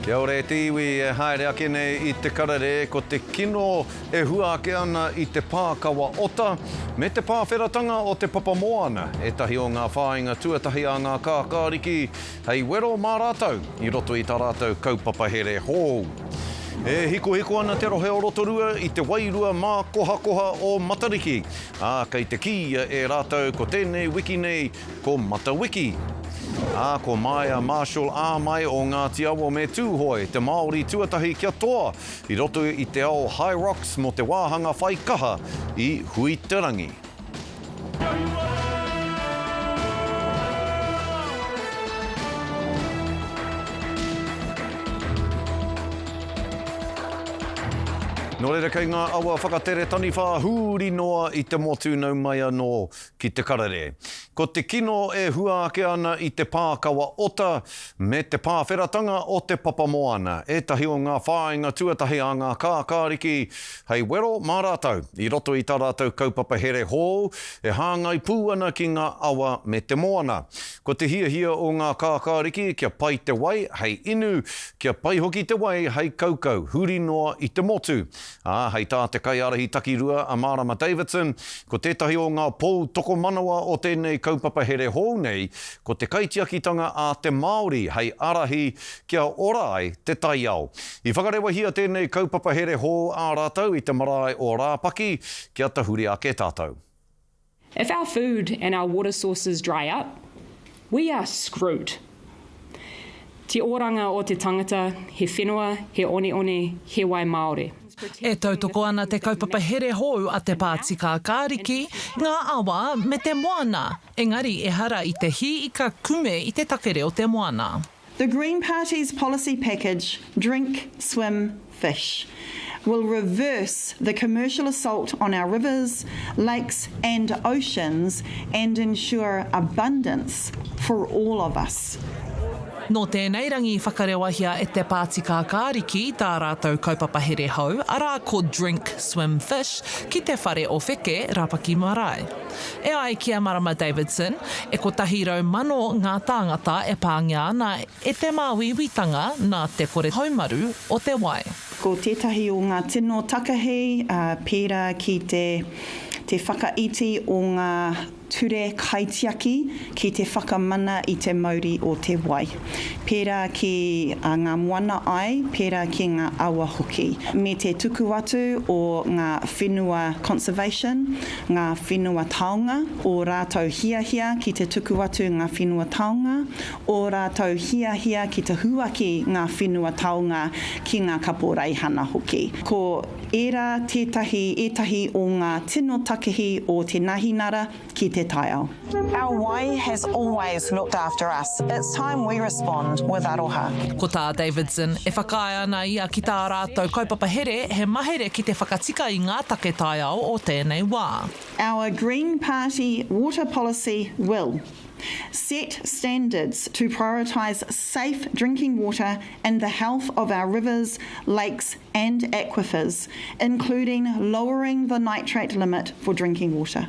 Kia ora e te iwi e haere ake nei i te karere ko te kino e hua ake ana i te pā kawa ota me te pāwheratanga o te papa moana, ētahi o ngā whāinga tuatahi a ngā kākāriki hei wero mā rātou i roto i tā rātou kaupapa here hou. E hikohiko ana te rohe o Rotorua i te wairua mākohakoha o Matariki, ā, kei te kīia e rātou ko tēnei wiki nei Ko Matawiki. Ā, ko Maia Marshall ā mai o Ngāti Awa me Tūhoe te Māori tuatahi kia toa i roto i te ao High Rocks mō te wāhanga whai kaha i Huiterangi. Nō reira kei ngā awa whakatere taniwha huri noa i te motu nau mai anō ki te karere. Ko te kino e hua ake ana i te pākawa ota me te pāwheratanga o te papa moana, ētahi o ngā whāinga tuatahi a ngā kākāriki hei wero mā rātou i roto i tā rātou kaupapa here hou e hāngai pū ana ki ngā awa me te moana. Ko te hiahia o ngā kākāriki kia pai te wai hei inu, kia pai hoki te wai hei kaukau huri noa i te motu, Ā, hei tā te kaiārahi takirua a Mārama Davidson, ko tētahi o ngā pou tokomanawa o tēnei kaupapa here hou nei, ko te kaitiakitanga a te Māori hei ārahi kia ora ai te taiao. I whakarewahia tēnei kaupapa here hou ā rātou i te marae o Rāpaki kia tahuri ake tātou. If our food and our water sources dry up, we are screwed. Te oranga o te tangata, he whenua, he oneone, he wai māore. E tautoko ana te kaupapa here hou a te Pāti Kākāriki i ngā awa me te moana, engari ehara i te hī ika kume i te take reo te moana. The Green Party's policy package, Drink, Swim, Fish, will reverse the commercial assault on our rivers, lakes and oceans and ensure abundance for all of us. Nō tēnei rangi i whakarewahia e te Pāti Kākāriki tā rātou kaupapa here hou, arā ko Drink, Swim, Fish, ki te whare o Wheke, Rapaki Marae. E ai ki a Marama Davidson, e kotahi rau mano ngā tāngata e pāngia ana e te māuiuitanga nā te kore haumaru o te wai. Ko tētahi o ngā tino takahi, pērā ki te whakaiti o ngā ture kaitiaki ki te whakamana i te mauri o te wai, pērā ki ngā moana ai, pērā ki ngā awa hoki, me te tuku atu o ngā whenua conservation, ngā whenua taonga, ō rātou hiahia ki te tuku atu ngā whenua taonga, ō rātou hiahia ki te huaki ngā whenua taonga ki ngā kaporeihana hoki. Ko ērā tētahi ētahi o ngā tino takehi o te nahinara ki te taiao. Our wai has always looked after us, it's time we respond with aroha. Ko tā Davidson, e whakaae ana ia ki tā rātou kaupapa here, he mahere ki te whakatika i ngā take taiao o tēnei wā. Our Green Party water policy will Set standards to prioritise safe drinking water and the health of our rivers, lakes and aquifers, including lowering the nitrate limit for drinking water.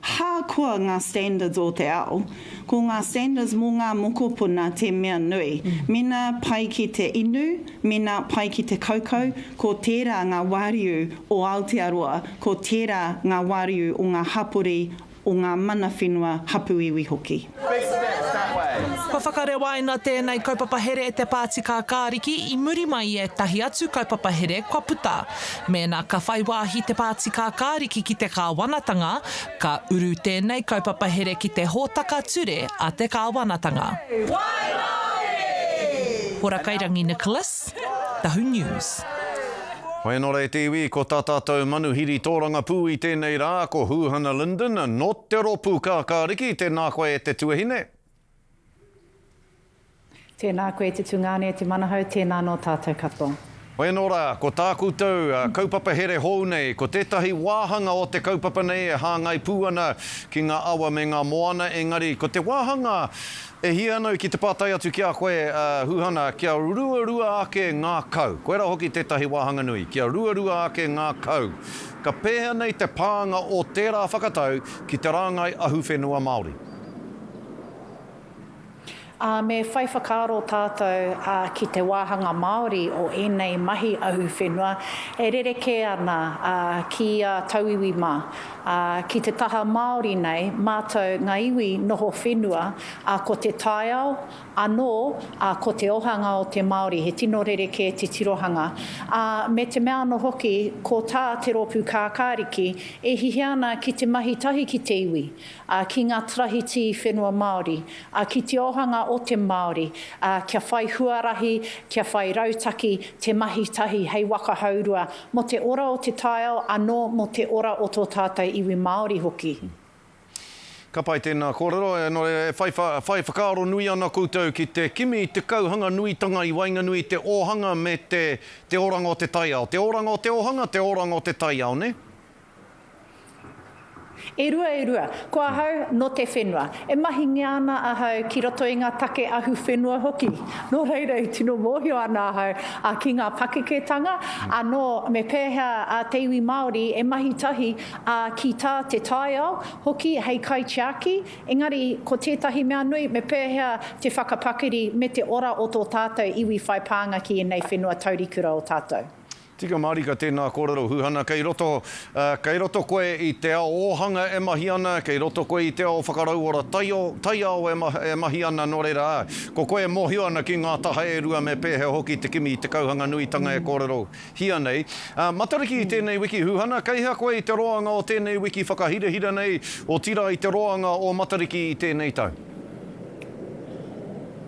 Ahakoa ngā standards o te ao, ko ngā standards mō ngā mokopuna te mea nui. Mēnā pai ki te inu, mēnā pai ki te kaukau, ko tērā ngā wāriu o Aotearoa, ko tērā ngā wāriu o ngā hapori, o ngā mana whenua, hapu iwi hoki. Kua whakarewaina tēnei kaupapa here e te Pāti Kākāriki i muri mai i ētahi atu kaupapa here kua puta. Mēnā ka whai wāhi te Pāti Kākāriki ki te kāwanatanga, ka uru tēnei kaupapa here ki te hōtaka ture a te kāwanatanga. Hora Kairangi Nicholas. Tahu News. Hoi anō rā te iwi, ko tā tātou manuhiri tōrangapū i tēnei rā, ko Hūhana Linden, nō te rōpū Kākāriki, tēnā koe e te tuahine. Tēnā koe e te tungāne, e te manahau, tēnā nō tātou katoa. Hoi anō rā, ko tā koutou kaupapa here hou nei, ko tētahi wāhanga o te kaupapa nei e hāngai pū ana ki ngā awa me ngā moana, engari ko te wāhanga E hia anau ki te pātai atu ki a koe, a Huhana, kia ruarua ake ngā kau. Koirā hoki tētahi wāhanga nui, kia ruarua ake ngā kau. Ka pēhea nei te pānga o tērā whakatau ki te rāngai ahuwhenua Māori? Ā, me whai whakaaro tātou ki te wāhanga Māori o ēnei mahi ahuwhenua e rerekē ana ki ia tauiwi mā. Ā, ki te taha Māori nei mātou ngā iwi noho whenua, ā, ko te taiao anō, ā, ko te ohanga o te Māori, he tino rerekē te tirohanga. Ā, me te mea anō hoki, ko tā te rōpū kākāriki, e hiahia ana ki te mahi tahi ki te iwi, ā, ki ngā tarahitī whenua Māori, ā, ki te ohanga o te Māori, ā, kia whai huarahi, kia whai rautaki te mahi tahi hei waka hourua Mō te ora o te taiao anō mō te ora o tō tātou iwi Māori hoki. Ka pai tēnā kōrero, nō reira e whai, whai whakaaro nui ana koutou ki te kimi i te kauhanga nuitanga i waenganui i te ōhanga me te, te oranga o te taiao. Te oranga o te ōhanga, te oranga o te taiao, nē? E rua, e rua. Ko ahau, nō te whenua. E mahingia ana ahau ki roto i ngā take ahu whenua hoki. Nō reira, i tino mōhio ana ahau ki ngā pakeketanga, anō me pēhea te iwi Māori e mahi tahi ki tā te taiao hoki hei kaitiaki, engari ko tētahi mea nui, me pēhea te whakapakari me te ora o tō tātou iwi whai pānga ki ēnei whenua taurikura o tātou. Tika mārika tēnā kōrero huhana kei roto, kei roto koe i te ao ōhanga e mahi ana, kei roto koe i te ao whakarauora taio, taiao e mahi ana nō reira ā, ko koe e mōhio ana ki ngā taha e rua me pēhea hoki te kimi i te kauhanga nuitanga e kōrerohia nei. Ā, Matariki i tēnei wiki huhana, kei hea koe i te roanga o tēnei wiki whakahirahira nei, otirā i te roanga o Matariki i tēnei tau?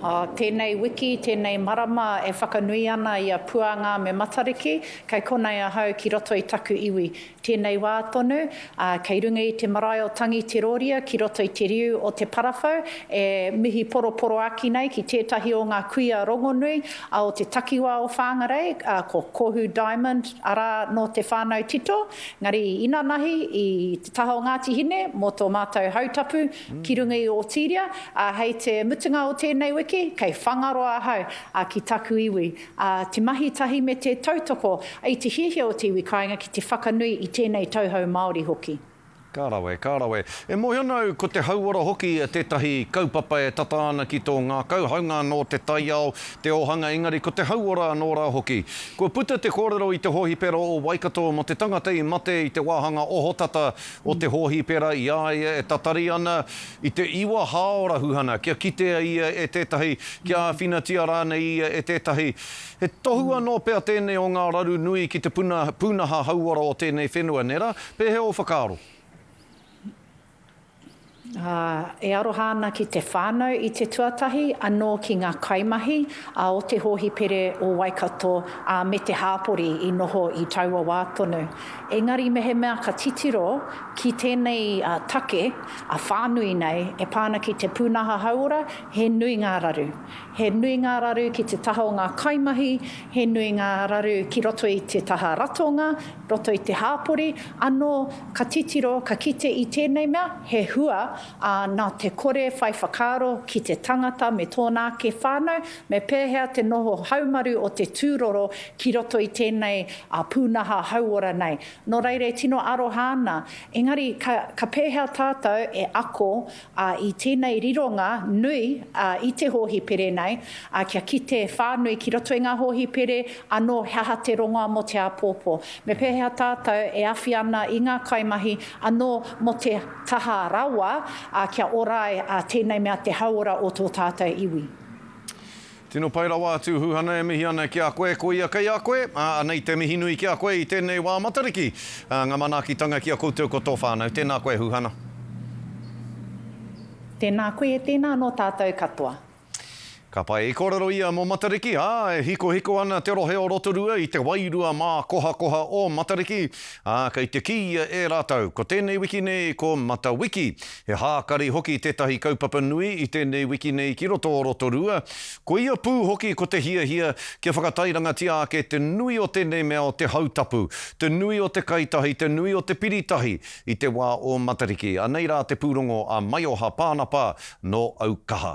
Ā, tēnei wiki, tēnei marama e whakanui ana i a Puānga me Matariki, kei konei ahau ki roto i taku iwi. Tēnei wā tonu, ā, kei runga i te marae o Tangi Te Rōria ki roto i te riu o Te Parawhau, e mihi poroporoaki nei ki tētahi o ngā kuia rongonui a o te takiwā o Whāngarei, ā, ko Kohu Diamond, arā, nō te whānau tito, ngari inanahi i te taha o Ngāti Hine mō tō mātou hautapu, Ki runga i Ōtīria, ā, hei te mutunga o tēnei wiki, kei Whangaroa ahau, ā, ki taku iwi, ā, te mahi tahi me te tautoko i te hiahia o te iwi kāinga ki te whakanui i tēnei tauhou Māori hoki. Ka rawe, ka rawe. E mōhio ana au ko te hauora hoki tētahi kaupapa e tata ana ki tō ngākau, hāunga anō te taiao, te ōhanga engari ko te hauora anō rā hoki. Kua puta te kōrero i te hōhipera o Waikato mō te tangata i mate i te wāhanga ohotata o te hōhipera i a ia e tatari ana i te iwa hāora huhana kia kitea ia e tētahi, kia āwhinatia rānei ia e tētahi. He tohu anō pea tēnei o ngā raru nui ki te puna, pūnaha hauora o tēnei whenua, nē rā? Pēhea ō whakaaro? ā, e aroha ana ki te whānau i te tuatahi, anō ki ngā kaimahi a o te hōhipere o Waikato, ā, me te hāpori i noho i taua wā tonu. Engari mehemea ka titiro ki tēnei take whānui nei e pā ana ki te pūnaha hauora, he nui ngā raru. He nui ngā raru ki te taha o ngā kaimahi, he nui ngā raru ki roto i te taha ratonga, roto i te hāpori, anō ka titiro, ka kite i tēnei mea, he hua, ā, nā te kore whai whakaaro ki te tangata me tōna ake whānau, me pēhea te noho haumaru o te tūroro ki roto i tēnei pūnaha hauora nei. Nō reira e tino aroha ana, engari ka pēhea tātou e ako ā, i tēnei rironga nui i te hōhipere nei, ā, kia kite whānui ki roto i ngā hōhipere anō he aha te rongoa mō te āpōpō, me pēhea tātou e awhi ana i ngā kaimahi anō mō te taha rawa, ā, kia ora ai tēnei mea te hauora o tō tātou iwi. Tino pai rawa a Tūhūhana e mihi ana ki a koe, ko ia kei a koe, ā, anei te mihi nui ki a koe i tēnei wā Matariki. Ā, ngā manaakitanga ki a koutou ko tō whānau. Tēnā koe Hūhana. Tēnā koe, tēnā anō tātou katoa. Ka pai. I kōrero ia mō Matariki, ā, e hikohiko ana te rohe o Rotorua i te wairua mākohakoha o Matariki, ā, kei te kī ia e rātou, ko tēnei wiki nei ko Matawiki. He hākari hoki tētahi kaupapa nui i tēnei wiki nei ki roto o Rotorua, koia pū hoki ko te hiahia kia whakatairangatia ake te nui o tēnei mea o te hautapu, te nui o te kaitahi, te nui o te piritahi i te wā o Matariki. Anei rā te pūrongo a Maioha Pānapa nō Aukaha.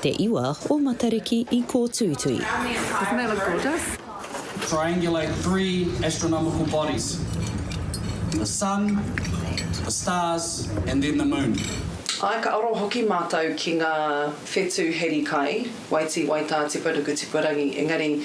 Te Iwa o Matariki i kōtuitui. Triangulate three astronomical bodies, the Sun, the stars and then the Moon. Āe, ka aro hoki mātou ki ngā whetū heri kai, waitī, waitā, tipa ruku, tipa rangi, engari,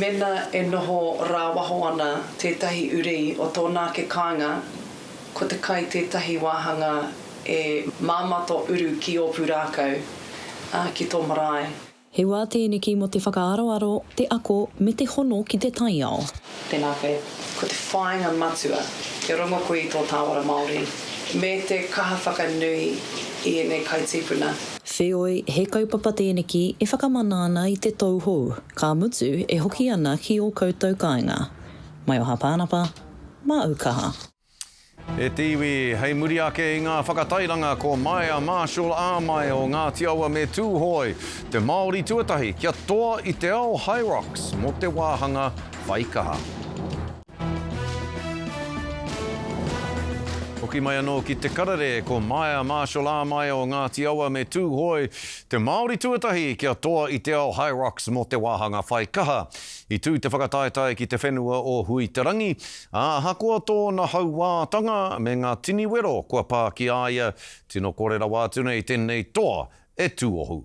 Mena e noho rāwaho ana tētahi uri o tōna ake kāinga, ko te kai tētahi wāhanga e māmā tō uru ki ō pūrākau, ā, ki tō marae. He wā tēneki mō te whakaaroaro, te ako, me te hono ki te taiao. Tēnā koe. Ko te whāinga matua, kia rongo koe i tō tāwara Māori, me te kaha whakanui i ēnei kai tīpuna. Wheoi, he kaupapa tēneki e whakamana ana i te tou hou. Ka mutu e hoki ana ki o koutou kainga. Maioha Panapa, Maau kaha. E te iwi, hei muri ake i ngā whakatairanga ko Maia Marshall Āmai o Ngāti Awa me Tūhoe, te Māori tuatahi kia toa i te ao Hyrox mō te wāhanga whaikaha. Hoki mai anō ki Te Karere, ko Maia Marshall Āmaia o Ngāti Awa me Tūhoe, te Māori tuatahi kia toa i te ao Hyrox mō te wāhanga whai kaha. I tū te whakataetae ki te whenua o Hui-te-rangi, ā, ahakoa tōna hauātanga me ngā tini wero kua pā ki a ia, tino kore rawa atu nei tēnei toa e tuohu.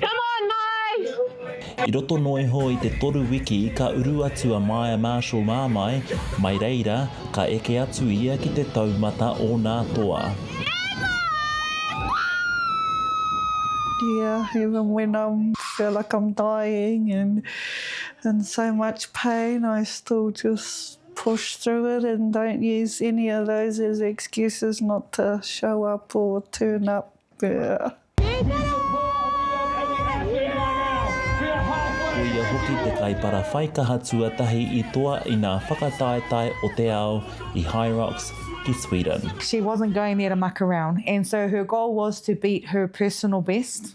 Come on Mai! I roto noa iho i te toru wiki ka uru atu a Maya Marshall Mamae mai reira ka eke atu ia ki te taumata o nā toa. Dear even when I'm feel like I'm dying and in so much pain I still just push through it and don't use any of those as excuses not to show up or turn up Ko ia hoki te kaiparawhaikaha tuatahi i toa i ngā whakataetae o te ao i Hyrox ki Sweden. She wasn't going there to muck around and so her goal was to beat her personal best.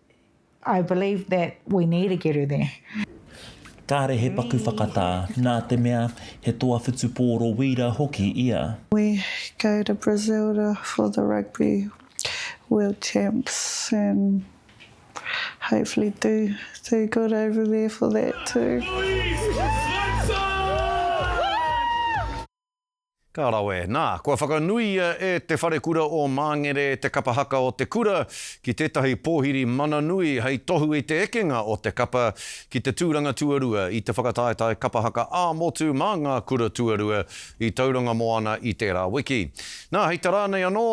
I believe that we need to get her there. Kāre he paku whakatā, nā te mea, he toa whutupōro wīra hoki ia. We go to Brazilda for the Rugby World Champs and hopefully do do good over there for that too. Ka rawe. Nā, kua whakanuia e Te Wharekura o Māngere te kapa haka o te kura ki tētahi pōhiri mana nui hei tohu i te ekenga o te kapa ki te tūranga tuarua i te whakataetae kapa haka ā-motu mā ngā kura tuarua i Tauranga Moana i tērā wiki. Nā, hei tā rānei anō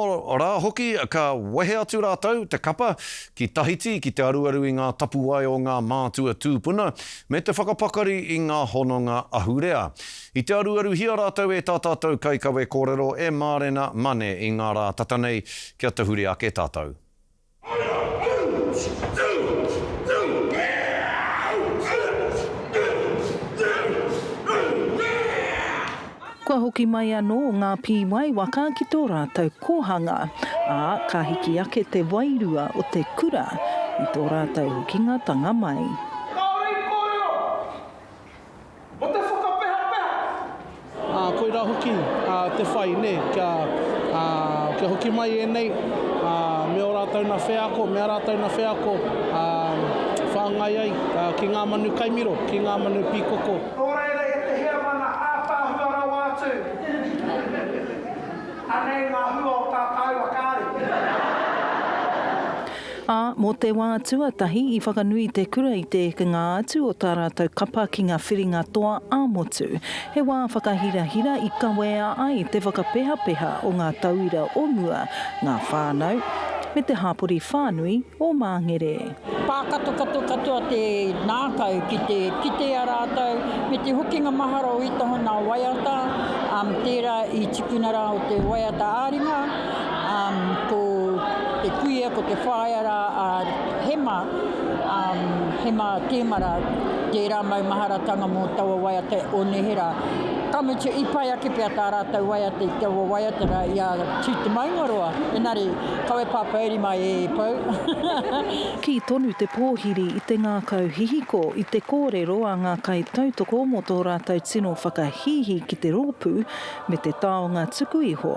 rā hoki, ka wehe atu rātou, te kapa, ki Tahiti ki te aruaru i ngā tapuwae o ngā mātua tūpuna me te whakapakari i ngā hononga ahurea. I te aruaruhia rātou e tā tātou kaikawe kōrero e Mārena Mane i ngā rā tata nei kia tahuri ake tātou. Kua hoki mai anō ngā pīwai waka ki tō rātou kōhanga, ā, ka hiki ake te wairua o te kura i tō rātou hokingatanga mai. Mo te whakapehapeha! Koirā hoki te whai, nē, kia, kia hoki mai ēnei me ō rātou nā wheako, me ā rātou nā wheako whāngai ai ki ngā manu kai miro, ki ngā manu pīkoko. Nō reira i te heamana ātaahua rawa atu, anei ngā hua o tā tāua kāri. Ā, mō te wā tuatahi i whakanui te kura i te ekenga atu o tā rātou kapa ki ngā whiringa toa ā-motu. He wā whakahirahira i kawea ai te whakapehapeha o ngā tauira o mua, ngā whānau, me te hapori whānui o Māngere. Pākatokato katoa te ngākau ki te kitea rātou me te hokinga mahara o Itaho nā waiata, tērā i tukuna rā o te waiata ā-ringa, Um, ko te kuia, ko te whaea rā a Hema, um, Hema Tēmara, tērā maumaharatanga mō taua waiata o nehera. Ka mutu, i pai ake pea tā rātou waiata i taua waiata rā i a Tū Te Maungaroa, engari, kawe pāpouri mai e Pou. Kī tonu te pōhiri i te ngākau hihiko i te kōrero a ngā kaitautoko mō tō rātou tino whakahīhī ki te rōpū me te taonga tuku iho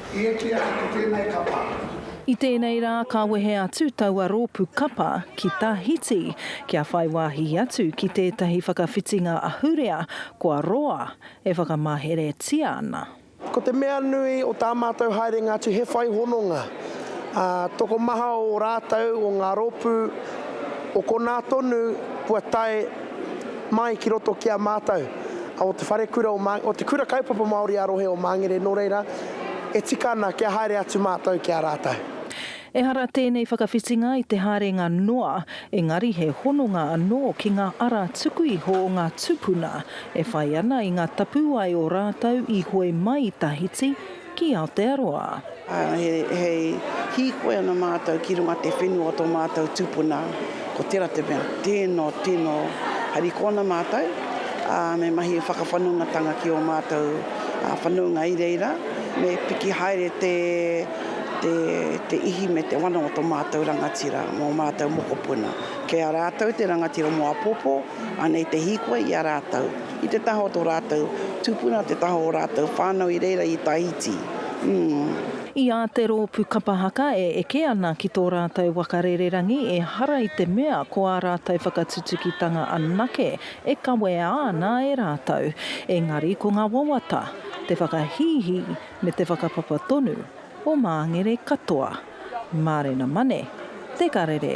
I eke ai ki tēnei kapa. I tēnei rā ka wehe atu taua rōpū kapa ki Tahiti kia whai wāhi atu ki tētahi whakawhitinga ahurea kua roa e whakamaheretia ana. Ko te mea nui o tā mātou haerenga atu he whai hononga, ā, tokomaha o rātou, o ngā rōpū, o konā tonu kua tae, mai ki roto ki a mātou, o te Wharekura o Māngere, o te Kura Kaupapa Māori ā-Rohe o Māngere, nō reira, e tika ana kia haere atu mātou ki a rātou. Ehara tēnei whakawhitinga i te haerenga noa, engari he hononga anō ki ngā ara tuku iho o ngā tūpuna e whai ana i ngā tapuwae o rātou i hoe mai i Tahiti, ki Aotearoa. He hīkoi ana mātou ki runga te whenua o tō mātou tūpuna, ko tērā te mea, tēnō, tēnō, harikoana mātou, ā, me mahi whakawhanongatanga ki ō mātou whanaunga i reira, me piki haere te ihi me te wana o tō mātou rangatira mō ō mātou mokopuna. Kei a rātou te rangatira mō apōpō, anei te hīkoi i a rātou. I te taha o tō rātou tūpuna, te taha o ō rātou whānau i reira i Tahiti. Umm. I a te rōpū kapa haka e eke ana ki tō rātou waka rererangi ehara i te mea ko ā rātou whakatutukitanga anake e kawea ana e rātou, engari ko ngā wawata, te whakahīhī me te whakapapa tonu o māngere katoa. Mārena Mane, Te Karere.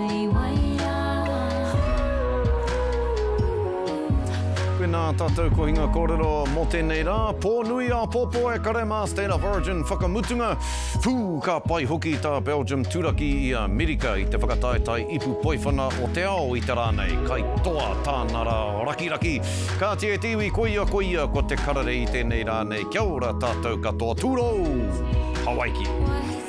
Tēnā tātou kohinga kōrero mō tēnei rā, pō nui āpōpō e kare mā State of Origin whakamutunga, pū ka pai hoki tā Belgium turaki i Amerika i te whakataetae ipu poiwhana o te ao i te rā nei, kai toa tāna rā rakiraki. Kāti e te iwi koia koia ko te karere i tēnei rā nei, kia ora tātou katoa, tūrou! Hawaiki!